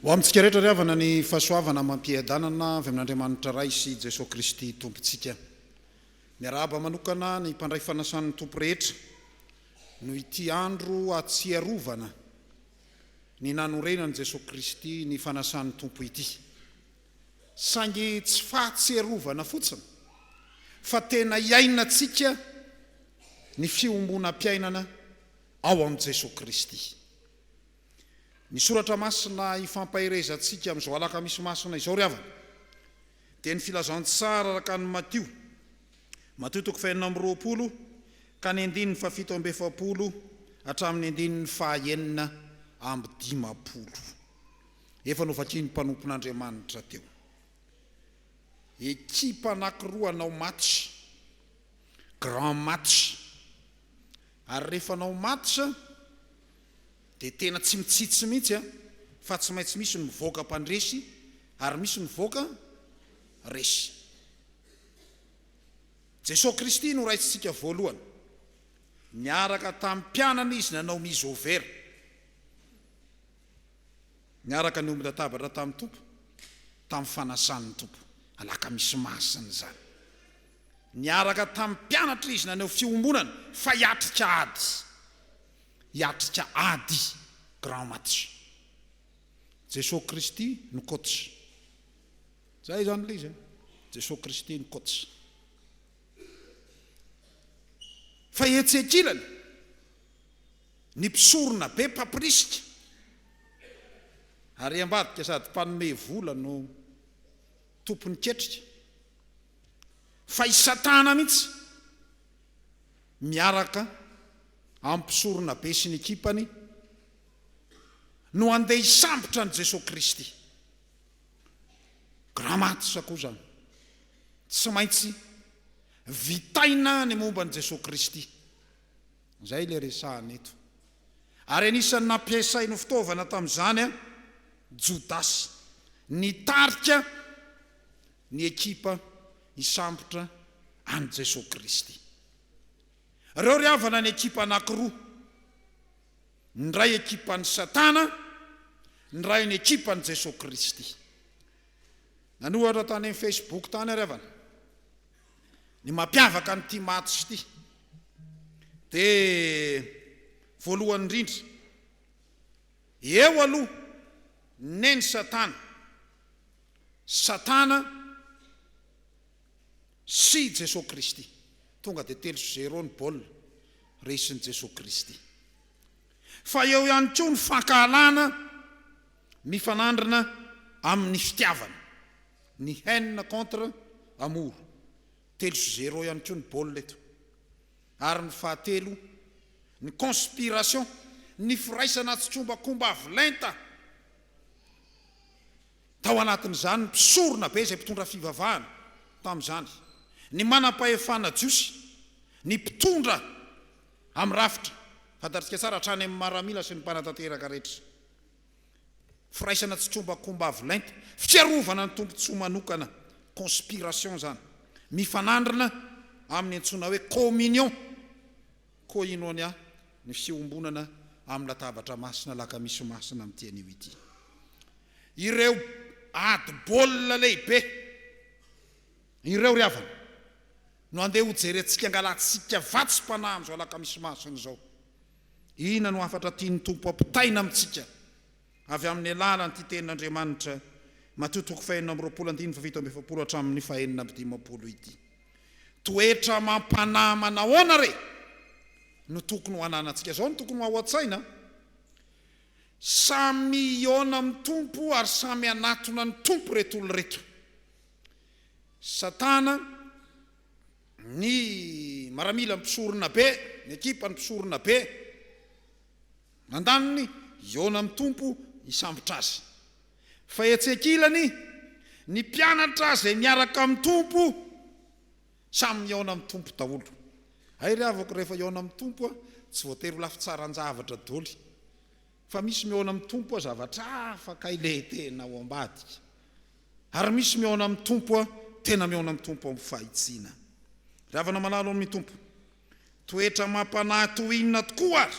Ho amintsika rehetra ry havana ny fahasoavana amam-piadanana avy amin'Andriamanitra Ray sy Jesoa Kristy Tompontsika. Miarahaba manokana ny mpandray fanasan'ny Tompo rehetra noho ity andro ahatsiarovana ny nanorenan'i Jesoa Kristy ny fanasan'ny Tompo ity. saingy tsy fahatsiarovana fotsiny fa tena iainantsika ny fiombonam-piainana ao amin'i Jesoa Kristy. Ny soratra masina ifampaherezantsika amin'izao alakamisy masina izao ry havana dia ny filazantsara araka an'i Matio, Matio toko fahenina amby roapolo ka ny andininy fahafito amby efapolo hatramin'ny andininy fahaenina amby dimampolo. Efa novakian'ny mpanompon'Andriamanitra teo. Ekipa anankiroa hanao match, grand match. Ary rehefa hanao match dia tena tsy mitsitsy mihitsy fa tsy maintsy misy ny mivoaka mpandresy ary misy ny mivoaka resy. Jesoa Kristy no Raisintsika voalohany. Niaraka tamin'ny mpianany Izy nanao misover. Niaraka niomby latabatra tamin'ny Tompo tamin'ny fanasan'ny Tompo, alakamisy masina izany. Niaraka tamin'ny mpianatra Izy naneho fiombonana fa hiatrika ady, hiatrika ady, grand match. Jesoa Kristy no coach. Zay izany ilay izy an! Jesoa Kristy no coach. Fa etsy ankilany, Ny mpisorona be mpampirisika ary ambadika sady mpanome vola no tompon'ny ketrika. Fa i Satana mihitsy miaraka amin'ny mpisorona be sy ny ekipany no handeha hisambotra an'i Jesoa Kristy. Grammatika koa izany. Tsy maintsy vitaina ny momba an'i Jesoa Kristy. Izay ilay resahana eto. Ary anisan'ny nampiasainy ho fitaovana tamin'izany Jodasy, nitarika ny ekipa hisambotra an'i Jesoa Kristy. Ireo ry havana ny ekipa anankiroa, ny iray ekipan'i Satana, ny iray ny ekipan'i Jesoa Kristy. Nanohatra tany amin'ny Facebook tany ry havana. Ny mampiavaka an'ity match ity dia voalohany indrindra, eo aloha Neny Satana, Satana sy Jesoa Kristy. Tonga dia telo zéro ny baolina resin'i Jesoa Kristy. Fa eo ihany koa ny fankahalana. Mifanandrina amin' ny fitiavana ny haine contre amour, telo sy zéro ihany koa ny baolina eto, ary ny fahatelo ny conspiration, ny firaisana tsikombakomba avy lenta, tao anatin' izany ny mpisorona be izay mpitondra fivavahana tamin' izany, ny manam-pahefana jiosy, ny mpitondra amin' ny rafitra, fantatsika tsara, hatrany amin' ny maramila sy ny mpanatanteraka rehetra. Firaisana tsy trombakomba avo lenta, fiarovana ny tombontsoa manokana, conspiration izany, mifanandrina amin'ny antsoina hoe communion, koinonia, ny fiombonana amin'ny latabatra masina, lakamisy masina amin'ity anio ity. Ireo ady baolina lehibe ireo ry havana no andeha hojerentsika, angalatsika vatsim-panahy amin'izao alakamisy masina izao, Inona no hafatra tian'ny Tompo hampitaina amintsika avy amin'ny alalan'ity Tenin'Andriamanitra, Matio toko fahenina amby roapolo andininy fahafito amby efapolo hatramin'ny fahenina amby dimampolo ity? Toetra amam-panahy manahoana re no tokony ho ananantsika? Izao no tokony ho ao an-tsaina, Samy hihaona amin'ny Tompo ary samy hanatona ny Tompo ireto olona ireto. Satana. ny maramila mpisorona be, ny ekipan'ny mpisorona be andaniny, hihaona amin'ny Tompo hisambotra Azy. Fa etsy ankilany, ny mpianatra izay miaraka amin'ny Tompo, samy mihaona amin'ny Tompo daholo. Hay ry havako, rehefa hihaona amin'ny Tompo, tsy voatery ho lafitsaran-javatra doly. Fa misy mihaona amin'ny Tompo a zavatra hafa kay le tena ao ambadika. Ary misy mihaona amin'ny Tompo a tena mihaona amin'ny Tompo ao amin'ny fahitsiana. Ry havana malalo amin'ny Tompo, toetra amam-panahy toy inona tokoa ary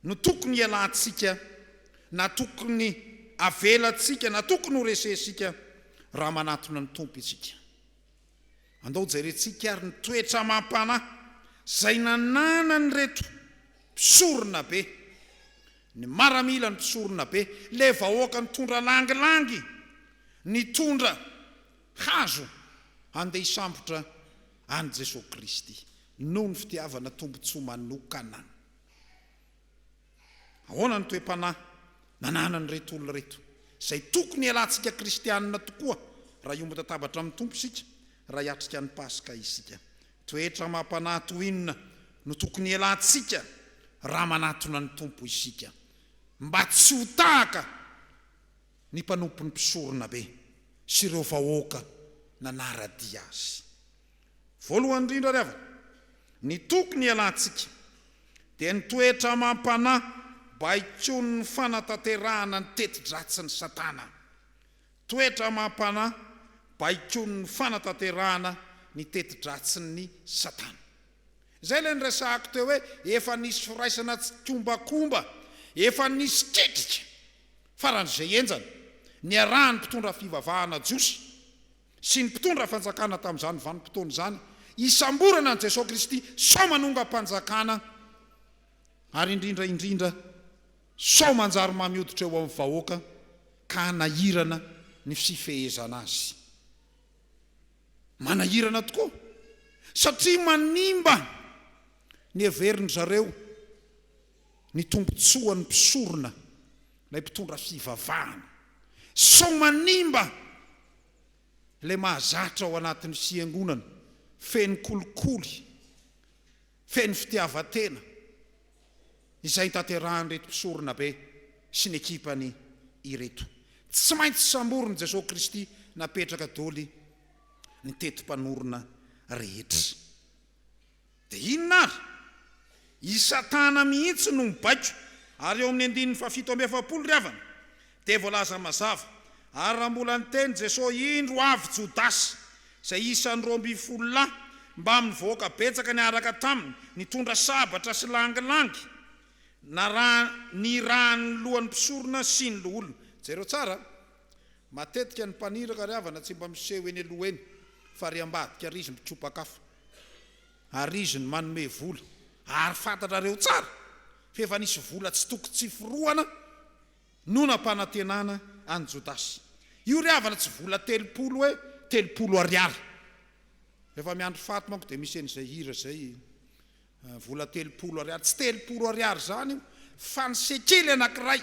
no tokony hialantsika na tokony avelantsika na tokony horesehintsika raha manatona ny Tompo isika? Andao jerentsika ary ny toetra amam-panahy izay nananan'ireto mpisorona be, ny maramila, ny mpisorona be, ilay vahoaka nitondra langilangy, nitondra hazo handeha hisambotra an'i Jesoa Kristy noho ny fitiavana tombontsoa manokana. Ahoana ny toe-panahy nananan'ireto olona ireto, izay tokony hialantsika Kristianina tokoa raha hiombon-tatabatra amin'ny Tompo isika, raha hiatrika ny Paska isika? Toetra amam-panahy toy inona no tokony hialantsika raha manatona ny Tompo isika, mba tsy ho tahaka ny mpanompon'ny mpisoronabe sy ireo vahoaka nanara-dia azy? Voalohany indrindra ry havana, ny tokony hialantsika dia ny toetra amam-panahy baikon'ny fanatanterahana ny teti-dratsin'i Satana. Toetra amam-panahy baikon'ny fanatanterahana ny teti-dratsin'i Satana. Izay ilay niresahako teo hoe efa nisy firaisana tsikombakomba, efa nisy ketrika faran'izay henjana niarahan'ny mpitondra fivavahana jiosy. sy ny mpitondra fanjakana tamin'izany vanim-potoana izany hisamborana an'i Jesoa Kristy sao manongam-panjakana ary indrindra indrindra sao manjary mamy hoditra eo amin'ny vahoaka ka hanahirana ny fifehezana azy. Manahirana tokoa satria manimba ny heverin-dry zareo. ny tombontsoan'ny mpisorona ilay mpitondra fivavahana. Sao manimba ilay mahazatra ao anatin'ny fiangonana feno kolikoly, feno fitiavan-tena izay tanterahan'ireto mpisorona be sy ny ekipany ireto. Tsy maintsy samborin'i Jesoa Kristy napetraka doly ny teti-panorona rehetra. Dia inona ary? I Satana mihitsy no mibaiko, ary eo amin'ny andininy fahafito amby efapolo ry havana, dia voalaza mazava, Ary raha mbola niteny Jesosy, Indro avy Jodasy, izay isan'ny roa ambin'ny folo lahy, mbamin'ny vahoaka betsaka niaraka taminy, nitondra sabatra sy langilangy, naraha, nirahan'ny lohan'ny mpisorona sy ny loholona. Jereo tsara a! Matetika ny mpaniraka ry havana tsy mba miseho eny aloha eny fa ry ambadika ary izy mitsopak'afo ary izy no manome vola ary fantatrareo tsara fa efa nisy vola tsy toko tsy forohana no nampanantenana an'i Jodasy io ry havana tsy vola telopolo hoe telopolo ariary rehefa miandry faty manko dia misy an'izay hira izay vola telopolo ariary tsy telopolo ariary izany io fa ny sekely anankiray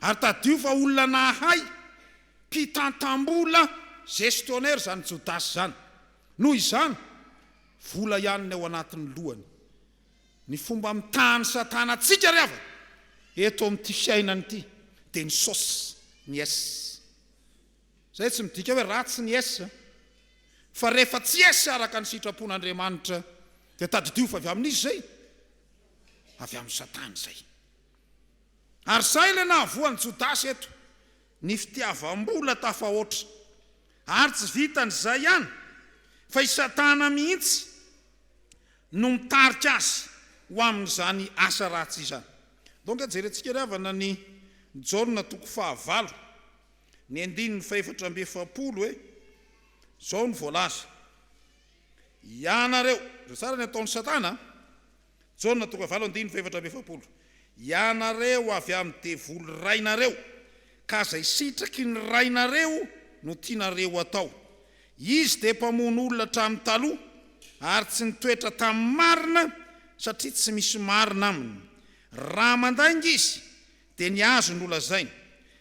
Ary tadidio fa olona nahay, mpitantam-bola, gestionnaire izany Jodasy izany. Noho izany, vola ihany ny ao anatin'ny lohany. Ny fomba mitaha an'i Satana antsika ry havana, eto amin'ity fiainana ity, dia ny sos, ny es. Izay tsy midika hoe ratsy ny es, fa rehefa tsy es araka ny sitrapon'Andriamanitra, dia tadidio fa avy amin'iza izay? Avy amin'i Satana izay. Ary izay ilay nahavoa an'i Jodasy eto, ny fitiavam-bola tafahoatra. Ary tsy vitan'izay ihany, fa i Satana mihitsy no mitarika azy ho amin'izany asa ratsy izany. Donka jerentsika ry havana ny Jaona toko fahavalo, ny andininy fahefatra amby efapolo hoe, Izao no voalaza, Ianareo, izao tsara ny ataon'i Satana an, Jaona toko fahavalo andininy fahefatra amby efapolo Ianareo avy amin'ny devoly rainareo, ka izay sitraky ny rainareo no tianareo atao. Izy dia mpamono olona hatramin'ny taloha, ary tsy nitoetra tamin'ny marina, satria tsy misy marina aminy. Raha mandainga izy, dia ny azy no lazainy,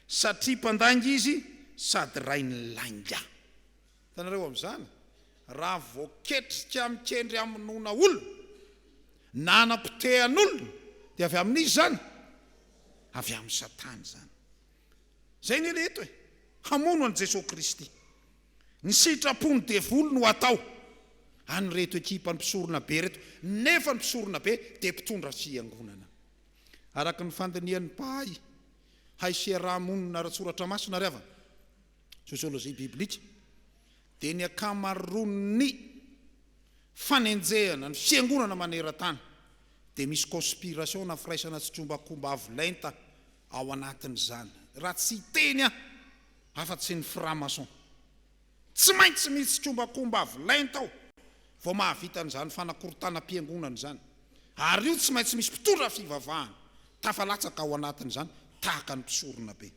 satria mpandainga izy sady rain'ny lainga. Hitanareo amin'izany? Raha voaketrika mikendry hamonoana olona na hanapotehan'olona dia avy amin'iza izany? Avy amin'i Satana izany. Izay anie ilay eto e! Hamono an'i Jesoa Kristy. Ny sitrapon'ny devoly no hatao an'ireto ekipan'ny mpisoronabe ireto, nefa ny mpisoronabe dia mpitondra fiangonana. Araka ny fandinihan'ny mpahay hay sy hiaraha-monina ara-tsoratra masina ry havana, Sociologie biblique, dia ny ankamaroan'ny fanenjehana ny Fiangonana maneran-tany dia misy conspiration na firaisana tsy trombakomba avo lenta ao anatin'izany, raha tsy hiteny aho afa-tsy ny franc-maçon. Tsy maintsy misy trombakomba avo lenta ao vao mahavita an'izany fanakorontanam-piangonana izany, ary io tsy maintsy misy mpitondra fivavahana tafalatsaka ao anatin'izany tahaka ny mpisoronabe.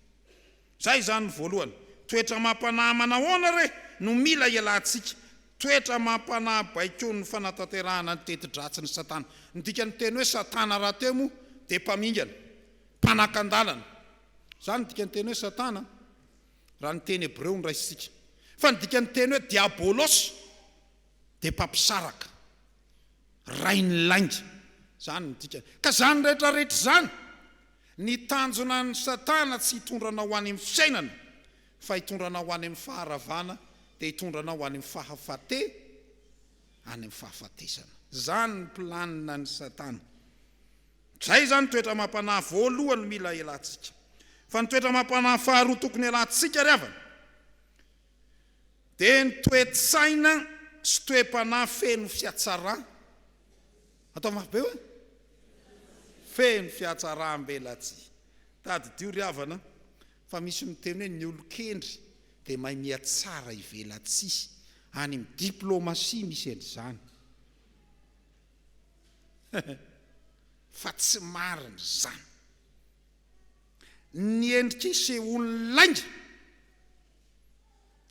Zay izany ny voalohany. Toetra amam-panahy manahoana re no mila ialatsika? Toetra amam-panahy baikon'ny fanatanterahana ny teti-dratsin'i Satana. Ny dikan'ny teny hoe Satana rahateo moa dia mpamingana, mpanakan-dalana. Izany ny dikan'ny teny hoe Satana raha ny teny hebreo no raisintsika. Fa ny dikan'ny teny hoe diabolosy dia mpampisaraka, rain'ny lainga. Izany no dikany. Ka izany rehetra rehetra izany. Ny tanjona an'i Satana tsy hitondra anao any amin'ny fiainana fa hitondra anao any amin'ny faharavana dia hitondra anao any amin'ny fahafate any amin'ny fahafatesana. Zany ny planina an'i Satana. Zay izany toetra amam-panahy voalohany no mila hialantsika. Fa ny toetra amam-panahy faharoa tokony hialantsika ry havana. dia ny toe-tsaina sy toe-panahy feno fihatsarana. Atao mafy be hoe, feno fihatsarambelatsihy. Tadidio ry havana fa misy miteny hoe ny olon-kendry dia mahay mihatsara ivelatsihy, any amin'ny diplomasia misy an'izany. Fa tsy marina izany. Ny endrika isehoan'ny lainga.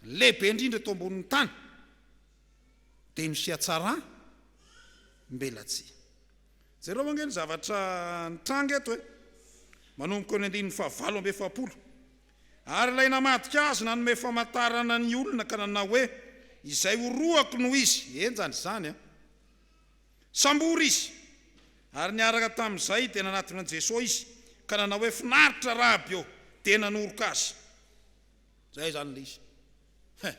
Ny lehibe indrindra eto ambonin'ny tany dia ny fihatsaram belatsihy. Jereo ange ny zavatra nitranga eto e! Manomboka eo ny andininy fahavalo amby efapolo, Ary ilay namadika azy nanome famantarana ny olona ka nanao hoe, Izay horohako no izy. Enjana izany an! Sambory izy. Ary niaraka tamin'izay dia nanatona an'i Jesoa izy ka nanao hoe, Finaritra Raby ô! Dia nanoroka Azy. Izay izany ilay izy. He!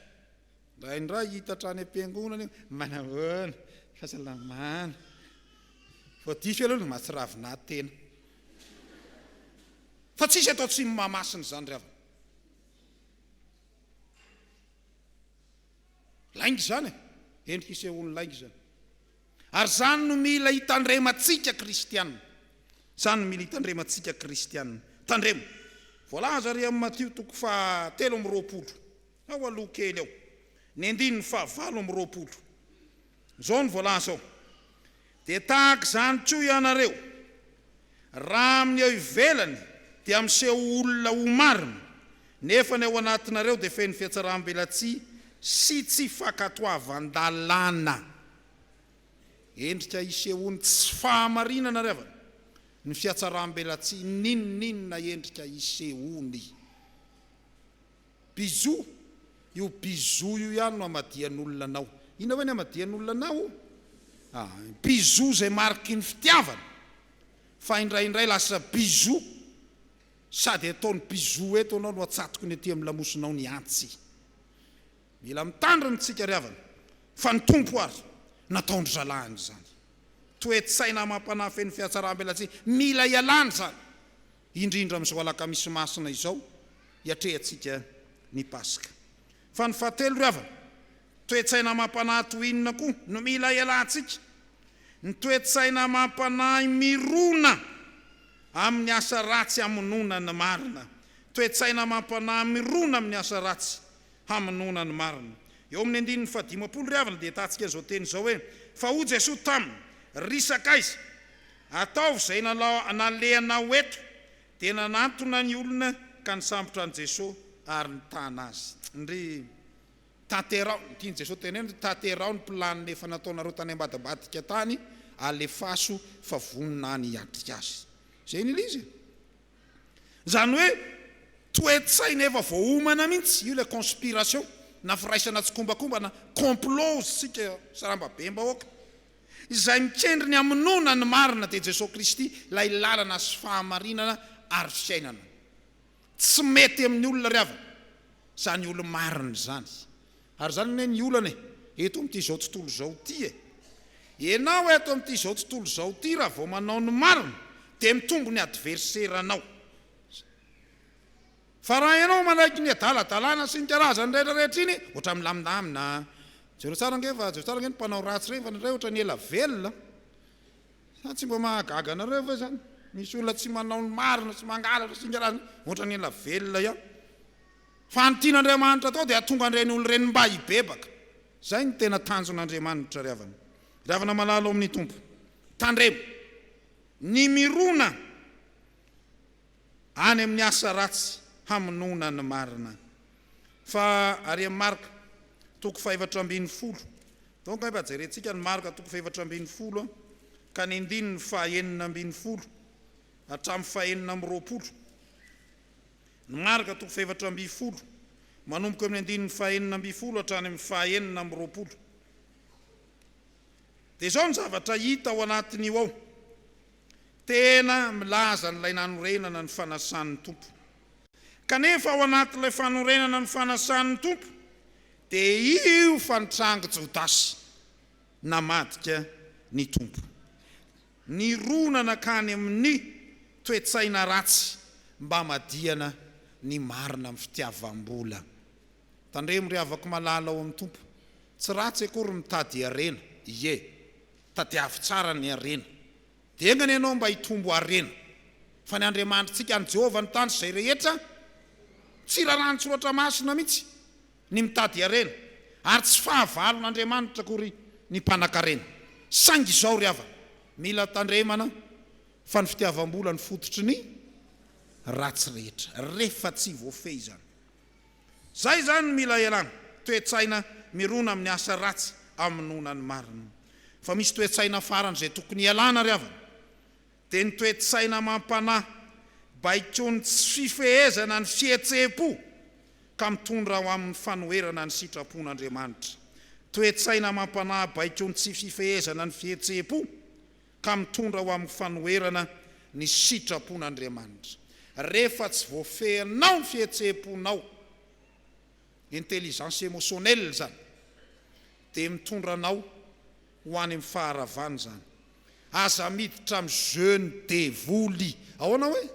Indraindray hiitatra any am-piangonana io, Manahoana? Fahasalamana? Voadiso ianao no mahatsiravina tena. Fa tsisy atao tsimby mahamasina izany ry havana. Lainga izany e! Eny hisehoan'ny lainga izany. Ary izany no mila hitandremantsika kristiana. Izany no mila hitandremantsika kristiana. Tandremo. Voalaza ary amin'ny Matio toko faha telo amby roapolo, ao aloha kely ao, ny andininy faha valo amby roapolo. Izao no voalaza ao, Dia tahaka izany koa ianareo, raha amin'ny eo ivelany dia miseho ho olona ho marina, nefa ny ao anatinareo dia feno fihatsarambelatsihy sy tsy fankatoavan-dalàna. Endrika isehoan'ny tsy fahamarinana ry havana ny fihatsarambelatsihy, n'inon'inona endrika isehoany. Bisous! Io bisous io ihany no hamadihan'olona anao. Inona hoe ny hamadihan'olona anao? Ah, bisous izay mariky ny fitiavana, fa indraindray lasa bisous sady ataony bisous eto anao no atsatokiny aty amin'ny lamosinao ny antsy. Mila mitandrina isika ry havana fa ny Tompo ary nataon-dry zalahiny izany. Toe-tsaina amam-panahy feno fihatsarambelatsihy mila ialana izany. indrindra amin'izao alakamisy masina izao iatrehantsika ny Paska. Fa ny fahatelo ry havana, toe-tsaina amam-panahy toy inona koa no mila ialantsika? Ny toe-tsaina amam-panahy mirona amin'ny asa ratsy hamonoana ny marina. Toe-tsaina amam-panahy mirona amin'ny asa ratsy hamonoana ny marina. Eo amin'ny andininy fahadimampolo ry havana dia ahitantsika izao teny izao hoe, Fa hoy Jesoa taminy, Ry sakaiza, Ataovy izay nalehanao eto dia nanantona ny olona ka nisambotra an'i Jesoa ary nitana azy. Ndry tanteraho, ny tian'i Jesoa teneno, ndry tanteraho ny planina efa nataonareo tany ambadimbadika tany, alefaso fa vonona any hiatrika azy. Izay nila izy e. Izany hoe toe-tsaina efa voaomana mihitsy, io ilay conspiration na firaisana tsikombakomba na complot hoy isika sarambabem-bahoaka. Izay mikendry ny hamonoana ny marina dia Jesoa Kristy ilay lalana sy fahamarinana ary fiainana. Tsy mety amin'ny olona ry havana izany olo-marina izany. Ary izany anie ny olana e, eto amin'ity izao tontolo izao ity e. Ianao eto amin'ity izao tontolo izao ity raha vao manao ny marina dia mitombo ny adverseranao. Fa raha ianao manaiky ny adaladalana sy ny karazany rehetra rehetra iny, ohatra milamindamina, jereo tsara ange fa jereo tsara ange ny mpanao ratsy ireny fa ny iray ohatra ny ela velona, sa tsy mba mahagaga anareo ve izany? Misy olona tsy manao ny marina sy mangalatra sy ny karazany ohatra ny ela velona ihany. Fa ny tian'Andriamanitra atao dia hatonga an'ireny olona ireny mba hibebaka. Izay no tena tanjon'Andriamanitra ry havana. Ry havana malala ao amin'ny Tompo, tandremo ny mirona. any amin'ny asa ratsy hamonoana ny marina. Fa ary amin'ny Marka, toko fahefatra ambin'ny folo, toa ange mba jerentsika ny Marka toko fahefatra ambin'ny folo ka ny andininy fahenina ambin'ny folo hatramin'ny fahenina amby roapolo. Ny Marka toko fahefatra ambin'ny folo, manomboka amin'ny andininy fahenina ambin'ny folo hatrany amin'ny fahenina amby roapolo. Dia izao ny zavatra hita ao anatin'io ao, Tena milaza an'ilay nanorenana ny fanasan'ny Tompo. Kanefa ao anatin'ilay fanorenana ny fanasan'ny Tompo dia io fa nitrangy Jodasy namadika ny Tompo. Nirona nankany amin'ny toe-tsaina ratsy mba hamadihana ny marina amin'ny fitiavam-bola. Tandremo ry havako malala ao amin'ny Tompo, tsy ratsy akory ny mitady harena, ie. Tadiavo tsara ny harena. Dia enga anie ianao mba hitombo harena. Fa ny Andriamanitritsika, ny Jehovah no tandrotry izay rehetra. Tsy raràn'ny Soratra Masina mihitsy ny mitady harena, ary tsy fahavalon'Andriamanitra akory ny mpanan-karena. Saingy izao ry havana, mila tandremana fa ny fitiavam-bola no fototry ny ratsy rehetra, rehefa tsy voafehy izany. Zay zany mila ialana, toe-tsaina mirona amin'ny asa ratsy amonoana ny marina. Fa misy toe-tsaina farany izay tokony ialana ry havana, dia ny toe-tsaina amam-panahy, baikon'ny tsy fifehezana ny fihetseham-po ka mitondra ho amin'ny fanoherana ny sitrapon'Andriamanitra. Toe-tsaina amam-panahy baikon'ny tsy fifehezana ny fihetseham-po. ka mitondra ho amin'ny fanoherana ny sitrapon'Andriamanitra. Rehefa tsy voafehinao ny fihetseham-ponao, intelligence émotionnelle izany, dia mitondra anao ho any amin'ny faharavana izany. Aza miditra amin'ny jeu-n'ny devoly. Ahoana hoe?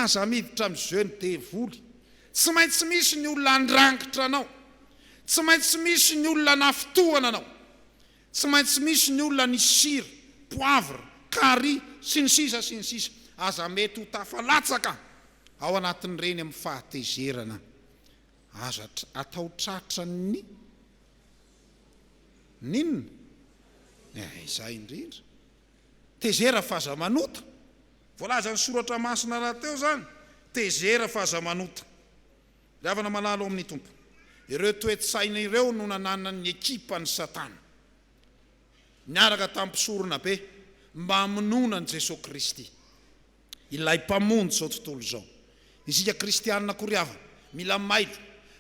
Aza miditra amin'ny jeu-n'ny devoly. Tsy maintsy misy ny olona handrangitra anao, tsy maintsy misy ny olona hanafintohana anao, Tsy maintsy misy ny olona ny sira, poivre, carry, sy ny sisa sy ny sisa. Aza mety ho tafalatsaka ao anatin'ireny amin'ny fahatezerana. Aza atao tratran'ny n'inona? Eeh izay indrindra. Tezera f'aza manota. Voalazan'ny soratra masina rahateo izany, tezera f'aza manota. Ry havana malala ao amin'ny Tompo, ireo toe-tsaina ireo no nananan'ny ekipan'i Satana, niaraka tamin'ny mpisoronabe, mba hamonoana an'i Jesoa Kristy, Ilay Mpamonjy izao tontolo izao. Isika Kristianina koa ry havana, mila mailo,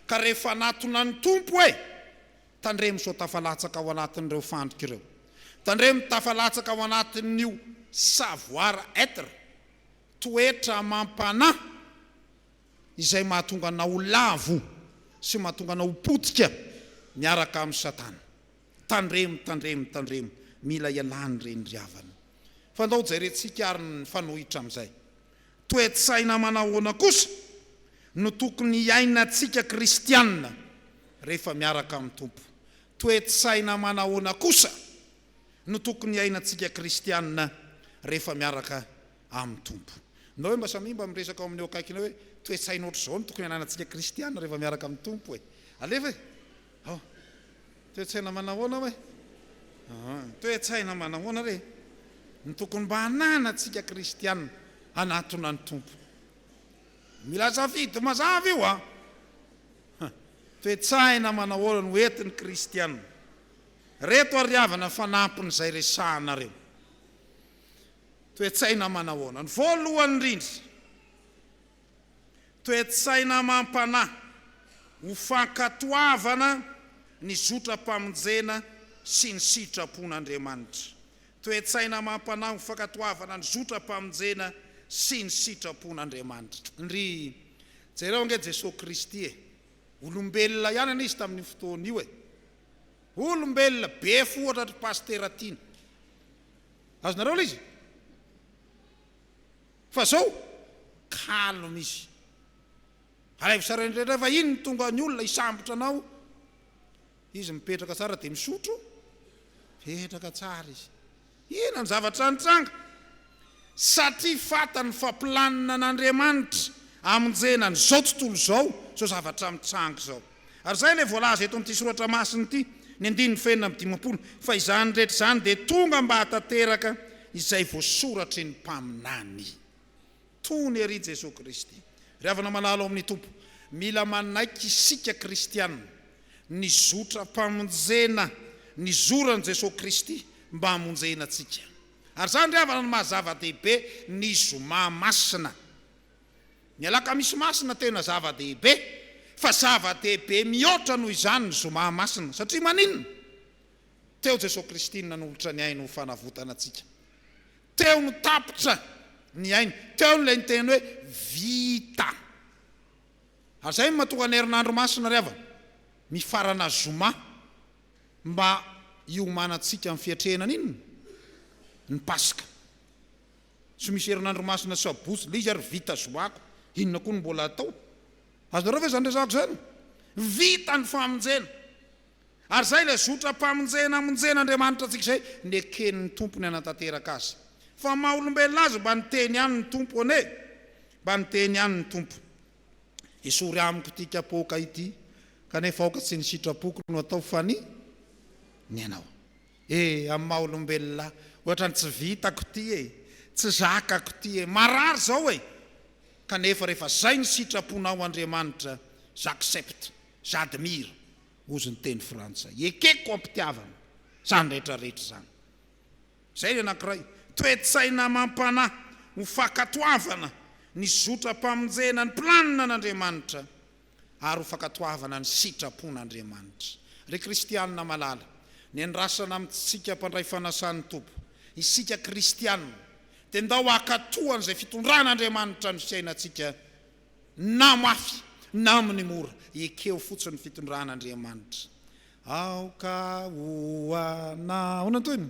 ka rehefa hanatona ny Tompo hoe, Tandremo sao tafalatsaka ao anatin'ireo fandrika ireo, tandremo tafalatsaka ao anatin'io savoir-être, toetra amam-panahy, izay mahatonga anao ho lavo sy mahatonga anao ho potika miaraka amin'i Satana. Tandremo, tandremo, tandremo, mila ialany ireny ry havana. Fandao jerentsika ary ny mifanohitra amin'izay. Toe-tsaina manahoana kosa no tokony hiainantsika kristiana rehefa miaraka amin'ny Tompo? Toe-tsaina manahoana kosa no tokony hiainantsika kristiana rehefa miaraka amin'ny Tompo. Na hoe mba samia mba miresaka ao amin'ny eo akaikinao hoe, toe-tsaina ohatr'izao no tokony hananantsika kristiana rehefa miaraka amin'ny Tompo e! Alefa e! Hao! Toe-tsaina manahoana ho'a e? Aa! Toe-tsaina manahoana re no tokony mba hananantsika kristiana hanatona ny Tompo? Mila safidy mazava io an! Ha! Toe-tsaina manahoana no entin'ny kristiana? Reto ary havana fanampin'izay resahanareo. Toe-tsaina manahoana no voalohany indrindra? Toe-tsaina amam-panahy ho fankatoavana ny zotram-pamonjena sy ny sitrapon'Andriamanitra. Toe-tsaina amam-panahy ho fankatoavana ny zotram-pamonjena sy ny sitrapon'Andriamanitra. Ndry, jereo ange Jesoa Kristy e! Olombelona ihany anie Izy tamin'io fotoana io e! Olombelona, be fo ohatratry Pasitera Tiana. Azonareo ilay izy? Fa zao, calme izy. Alaivo sary rehetra fa iny tonga ny olona hisambotra anao, izy mipetraka tsara dia misotro, mipetraka tsara izy. Inona ny zavatra nitranga? Satria fantany fa planina an'Andriamanitra hamonjena an'izao tontolo izao, izao zavatra mitranga izao. Ary izay ilay voalaza eto amin'ity soratra masina ity, ny andininy fahenina amby dimampolo, fa izany rehetra izany dia tonga mba hahatanteraka izay voasoratry ny mpaminany. Tony ery Jesoa Kristy. Ry havana malala ao amin'ny Tompo, mila manaiky isika kristiana ny zotram-pamonjena nizoran'i Jesoa Kristy mba hamonjena antsika. Ary izany ry havana no maha zava-dehibe ny zoma masina. Ny Alakamisy Masina tena zava-dehibe, fa zava-dehibe mihoatra noho izany ny Zoma Masina. Satria maninona? Teo Jesoa Kristy no nanolotra ny ainy ho fanavotana antsika. Teo no tapitra ny ainy. Teo no ilay niteny hoe vita. Ary izay no matoa ny herinandro masina ry havana, mifarana Zoma, mba hiomanantsika amin'ny fiatrehana an'inona? Ny Paska. Tsy misy herinandro masina sabotsy ilay izy ary vita zoako, inona koa no mbola atao? Azonareo ve izany resahako izany? Vita ny famonjena! Ary izay ilay zotram-pamonjena amonjena Andriamanitra antsika izay neken'ny Tompo ny hanatanteraka azy. Fa maha olombelona azy mba niteny ihany ny Tompo anie e! Mba niteny ihany ny Tompo. Esory amiko ity kapoaka ity, kanefa aoka tsy ny sitrapoko no atao fa ny ny anao. E! amin'ny maha olombelona ahy, ohatrany tsy vitako ity e! tsy zakako ity e! marary izao e! kanefa rehefa izay ny sitraponao Andriamanitra, j'accepte, j'admire, hozy ny teny frantsay, ekeko am-pitiavana izany rehetra rehetra izany. Izay ny anankiray, toe-tsaina amam-panahy ho fankatoavana ny zotram-pamonjena ny planin'Andriamanitra. ary ho fankatoavana ny sitrapon'Andriamanitra. Ry kristianina malala, nendrasana amintsika mpandray fanasan'ny Tompo, isika kristianina dia ndao hankatoa an'izay fitondran'Andriamanitra ny fiainantsika na mafy na amin'ny mora, ekeo fotsiny ny fitondran'Andriamanitra. Aoka ho anao. Ahoana ny tohiny?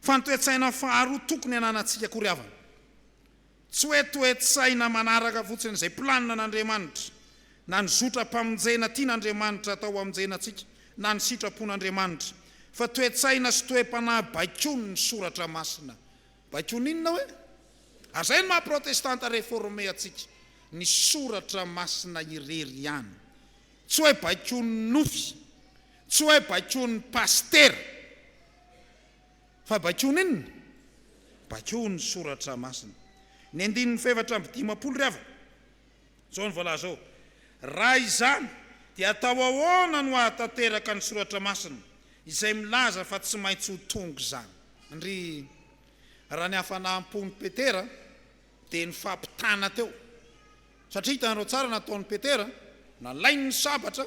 fa ny toe-tsaina faharoa tokony hananantsika akory havana. Tsy hoe toe-tsaina manaraka fotsiny izay planina an'Andriamanitra, na ny zotram-pamonjena tian'Andriamanitra hatao hamonjena antsika, na ny sitrapon'Andriamanitra, fa toe-tsaina sy toe-panahy baikon'ny Soratra Masina. Baikon'ny inona hoe? Ary izay no maha-Protestanta reforme antsika, ny Soratra Masina irery ihany. Tsy hoe baikon'ny nofy, tsy hoe baikon'ny pasitera. Fa baikoa n'inona? Baikoa ny Soratra Masina. Ny andininy fahefatra amby dimampolo ry havana. Izao no voalaza ao, Raha izany, dia atao ahoana no hahatanteraka ny Soratra Masina izay milaza fa tsy maintsy ho tonga izany? Ndry, raha ny hafanam-pon'i Petera dia nifampitana teo. Satria hitanareo tsara nataon'i Petera, nalainy ny sabatra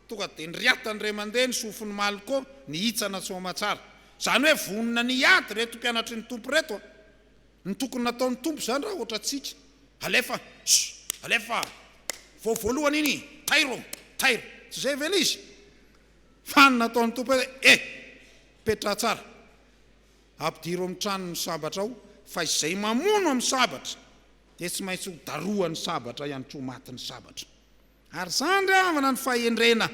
Tonga dia niriatany iray mandeha ny sofin'i Malco nihitsana soamatsara. Izany hoe vonona ny hiady ireto mpianatry ny Tompo ireto a! Ny tokony nataon'ny Tompo izany raha ohatra antsika. Alefa! Sh! Alefa! Vao voalohany iny! Tairo! Tairo! Tsy izay ve ilay izy? Fa ny nataon'ny Tompo hoe, Eh! Petraha tsara. Ampidiro amin'ny tranony ny sabatra ao, fa izay mamono amin'ny sabatra dia tsy maintsy ho darohan'ny sabatra ihany koa matin'ny sabatra. Ary izany ry havana no fahendrena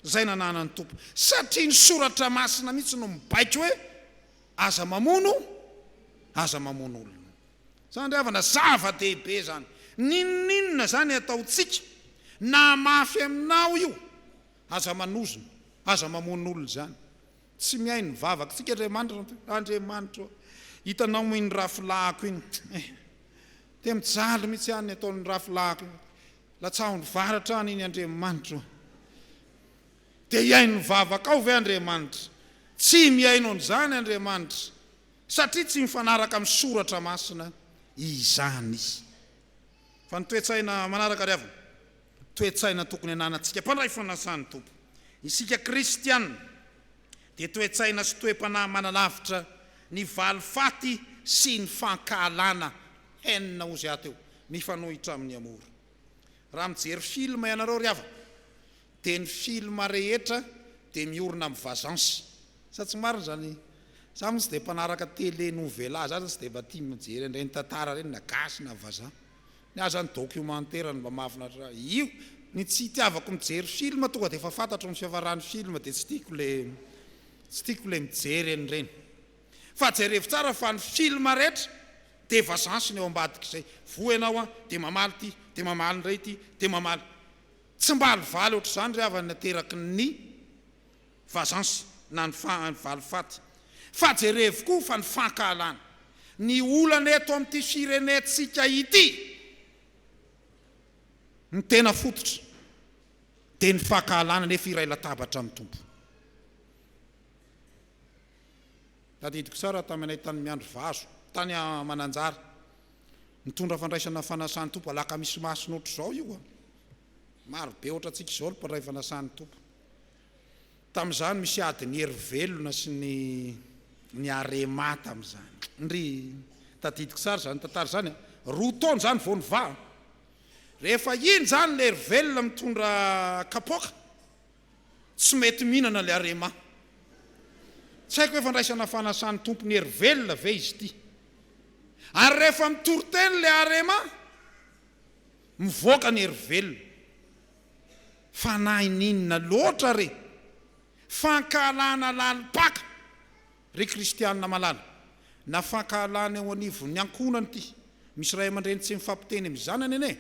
izay nananan'ny Tompo, satria ny Soratra Masina mihitsy no mibaiko hoe, Aza mamono, aza mamono olona. Izany ry havana zava-dehibe izany. N'inon'inona izany ataontsika, na mafy aminao io, aza manozona, aza mamono olona izany. Tsy mihaino ny vavakantsika Andriamanitra fa hoe, Andriamanitra ô, hitanao moa iny rafolahiko iny, eh, dia mijaly mihitsy aho ny ataon'ny rafolahiko iny. Latsahondro varatra an' iny Andriamanitra o! Dia hihaino ny vavakao ve Andriamanitra? Tsy mihaino an' izany Andriamanitra, satria tsy mifanaraka amin'ny Soratra Masina izany. Fa ny toe-tsaina manaraka ry havana, toe-tsaina tokony hananantsika mpandray fanasan'ny Tompo, isika Kristiana, dia toe-tsaina sy toe-panahy manalavitra ny valifaty sy ny fankahalana, haine, hozy ato eo. Mifanohitra amin'ny amour. Raha mijery film ianareo ry havako dia ny film rehetra dia miorina amin'ny vazance. Sa tsy marina izany? Za moa tsy dia mpanaraka télé nouvela za tsy dia mba tia mijery an'ireny tantara ireny na gasy na vazaha. Ny ahy zany documentaire no mba mahafinaritra ahy. Io ny tsy itiavako mijery film tonga dia efa fantatro ny fiafaran'ny film dia tsy tiako le tsy tiako le mijery an'ireny. Fa jerevo tsara fa ny film rehetra de efa zansiny eo ambadik'izay. Voa ianao an, de mamaly ty, de mamaly indray ty, de mamaly. Tsy mba alivaly ohatr'izany ry havana ateraky ny vazansy na ny valifaty. Fa jerevo koa fa ny fankahalana. Ny olana eto amin'ity firenentsika ity, ny tena fototra de ny fankahalana nefa iray latabatra amin'ny Tompo. Tadidiko tsara taminay tany miandry vazo tany a Mananjary nitondra fandraisana fanasan tompo alakamisy masina otrzao io a! Maro be otratsika izao ny mpandray fanasan tompo. Tamizany misy ady ny hery velona sy ny ny arema tamizany ndry tadidiko tsara zany tantara zany a! Roa taona zany vao nivaha rehefa iny zany le hery velona mitondra kapoaka Tsy mety mihinana le arema. Tsy haiko hoe fandraisana fanasan'ny tompony hery velona ve izy ity. Ary rehefa mitoriteny le arema, mivoaka ny hery velona. Fanahin'inona loatra re? Fankahalana lalim-paka. Ry kristianina malala, na fankahalana eo anivon'ny ankohonana ity, misy ray aman-dreny tsy mifampiteny amin'ny zanany anie,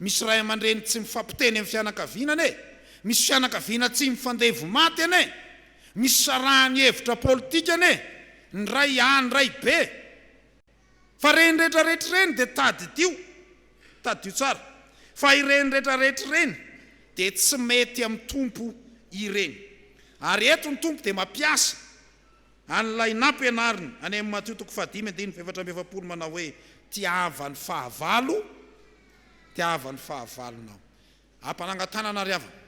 misy ray aman-dreny tsy mifampiteny amin'ny fianakaviana anie, misy fianakaviana tsy mifandevo maty anie, misy sarahan'ny hevitra politika anie, ny ray any ray be. Fa ireny rehetra rehetra ireny dia tadidio, tadidio tsara, fa ireny rehetra rehetra ireny dia tsy mety amin'ny Tompo ireny. Ary eto ny Tompo dia mampiasa an'ilay nampianariny any amin'ny Matio toko fahadimy andininy fahefatra amby efapolo manao hoe, Tiava ny fahavalo, tiava ny fahavalonao. Ampanangan-tanana ry havana.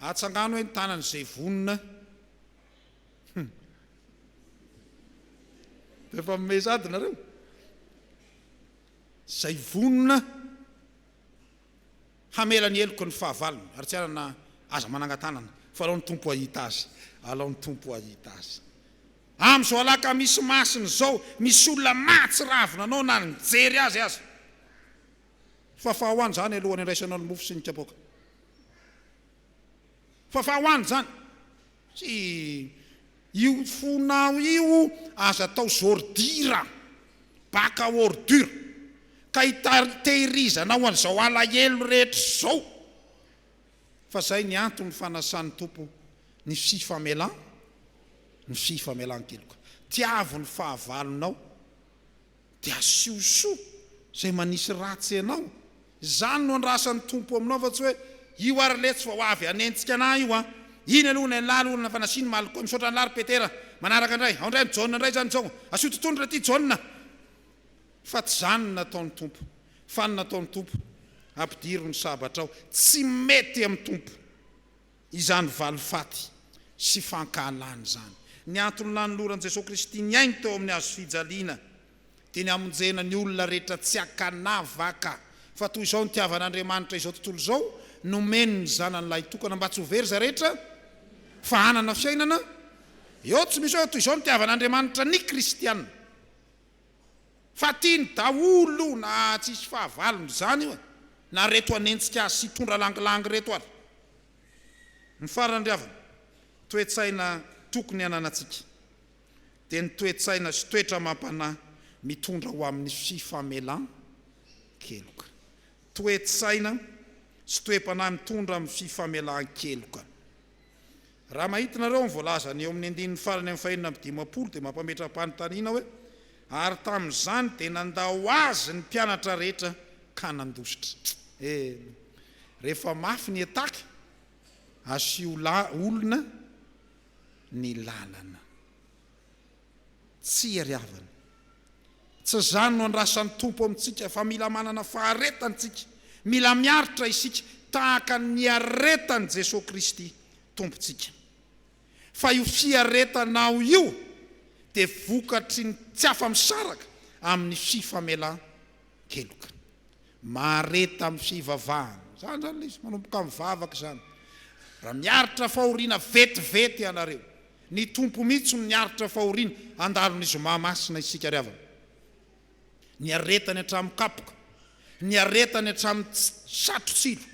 Atsangano hoe ny tanan'izay vonona Dia efa mimehy sady nareo. Izay vonona hamela ny heloky ny fahavalony ary tsy hanana aza manangan-tanana fa alao ny Tompo hahita azy, alao ny Tompo hahita azy. Amin'izao alakamisy masina izao misy olona mahatsiravina anao na nijery azy aza. Fafaho any izany alohan'ny andraisanao ny mofo sy ny kapoaka. Fa fa hoany zany. Tsy Io fonao io aza atao zordira, baka ordure, ka hiteirizanao an'izao alahelo rehetra izao. Fa zay ny antony fanasan'ny Tompo ny fifamelan, ny fifamelan-keloka. Tiavo ny fahavalonao. Dia asio soa izay manisy ratsy anao. Izany no andrasan'ny Tompo aminao fa tsy hoe io ary letsy vao avy hanenjika anah io an! Iny aloha ilay laly olona fa nasiany maly koa, misaotra anlah ry Petera, manaraka indray, ao indray ny Jaona indray izany izao, asio totohondry ilay ity Jaona fa tsy izany no nataon'ny Tompo. Fa ny nataon'ny Tompo, ampidiro ny sabatrao, tsy mety amin'ny Tompo. izany valifaty sy fankahalany izany. Ny antony nanoloran'i Jesoa Kristy ny Ainy teo amin'ny hazo fijaliana dia ny hamonjena ny olona rehetra tsy an-kanavaka. Fa toy izao nitiavan'Andriamanitra izao tontolo izao, nomeny ny Zanany Lahitokana mba tsy ho very izay rehetra fa hanana fiainana eo tsy misy hoe. Toy izao nitiavan'Andriamanitra ny Kristiana. Fa tiany daholo na tsy hisy fahavalony izany io e! Na reto hanenjika azy sy hitondra langilangy reto ary. Ny farany ry havana, toe-tsaina tokony hananantsika dia ny toe-tsaina sy toetra amam-panahy mitondra ho amin'ny fifamelan-keloka. Toe-tsaina sy toe-panahy mitondra amin'ny fifamelan-keloka. Raha mahitinareo ny voalazany eo amin'ny andininy farany amin'ny fahenina amby dimampolo dia mampametra-panontaniana hoe, Ary tamin'izany dia nandao azy ny mpianatra rehetra ka nandositra. Eny, rehefa mafy ny hetaky, asio olona ny lalana. Tsy iariavana. Tsy izany no andrasan'ny Tompo amintsika fa mila manana faharetana isika, mila miaritra isika tahaka ny niaretan'i Jesoa Kristy Tompontsika. Fa io fiaretana ao io dia vokatry ny tsy afa-misaraka amin'ny fifamelan-keloka. Heloka. Mahareta amin'ny fivavahana. Izany izany ilay izy, manomboka mivavaka izany. Raha miaritra fahoriana vetivety ianareo, ny Tompo mihitsy no niaritra fahoriana handalo ny Zoma Masina isika ry havana. Niaretany hatramin'ny kapoka, niaretany hatramin'ny satro-tsilo,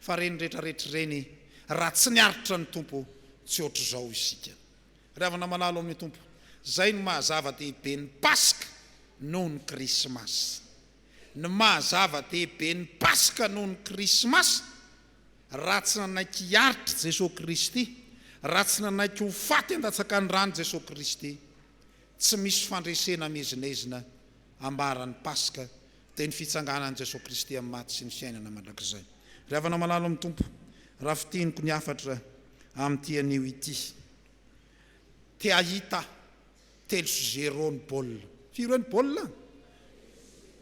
fa ireny rehetra rehetra ireny, raha tsy niaritra ny Tompo, tsy hoatr'izao isika. Ravina malalo amin'ny Tompo. Izay no maha zava-dehibe ny Paska noho ny Krismasy. Ny maha zava-dehibe ny Paska noho ny Krismasy, raha tsy nanaiky hiaritr'i Jesoa Kristy, raha tsy nanaiky ho faty an-datsakan'ny ran'i Jesoa Kristy, tsy misy fandresena miezinezina ambaran'ny Paska, Dia ny fitsanganan'i Jesoa Kristy amin'ny maty sy ny fiainana mandrakizay. Ry havana malalo amin'ny Tompo, raha fintiniko ny hafatra amin'ity anio ity. Te hahita telo sy zéro ny baolina. Firy hoe ny baolina?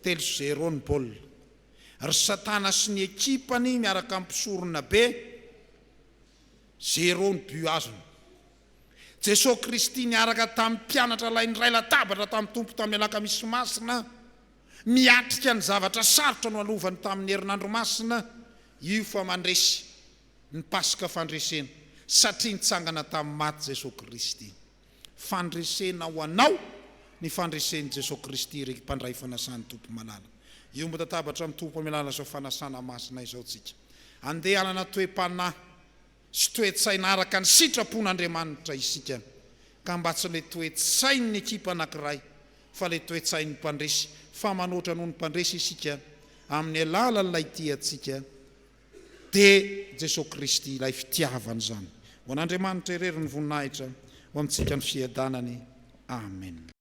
Telo sy zéro ny baolina. Ry Satana sy ny ekipany miaraka amin'ny mpisoronabe, zéro ny but azony. Jesoa Kristy niaraka tamin'ny mpianatra lahy niray latabatra tamin'ny Tompo tamin'ny Alakamisy Masina, miatrika ny zavatra sarotra noalovany tamin'ny Herinandro Masina, io fa mandresy ny Paska fandresena satria nitsangana tamin'ny maty Jesoa Kristy. Fandresena ho anao ny fandresen'i Jesoa Kristy ry mpandray fanasan'ny Tompo malala. Hiombon-databatra amin'ny Tompo hamelana izao fanasana masina izao tsika. Andeha hanana toe-panahy. sy toe-tsaina araka ny sitrapon'Andriamanitra isika ka mba tsy ilay toe-tsain'ny ekipa anankiray fa ilay toe-tsain'ny mpandresy fa manoatra noho ny mpandresy isika amin'ny alalan'ilay tia antsika dia Jesoa Kristy ilay fitiavana izany ho an'Andriamanitra irery ny voninahitra ho amintsika ny fiadanany Amen.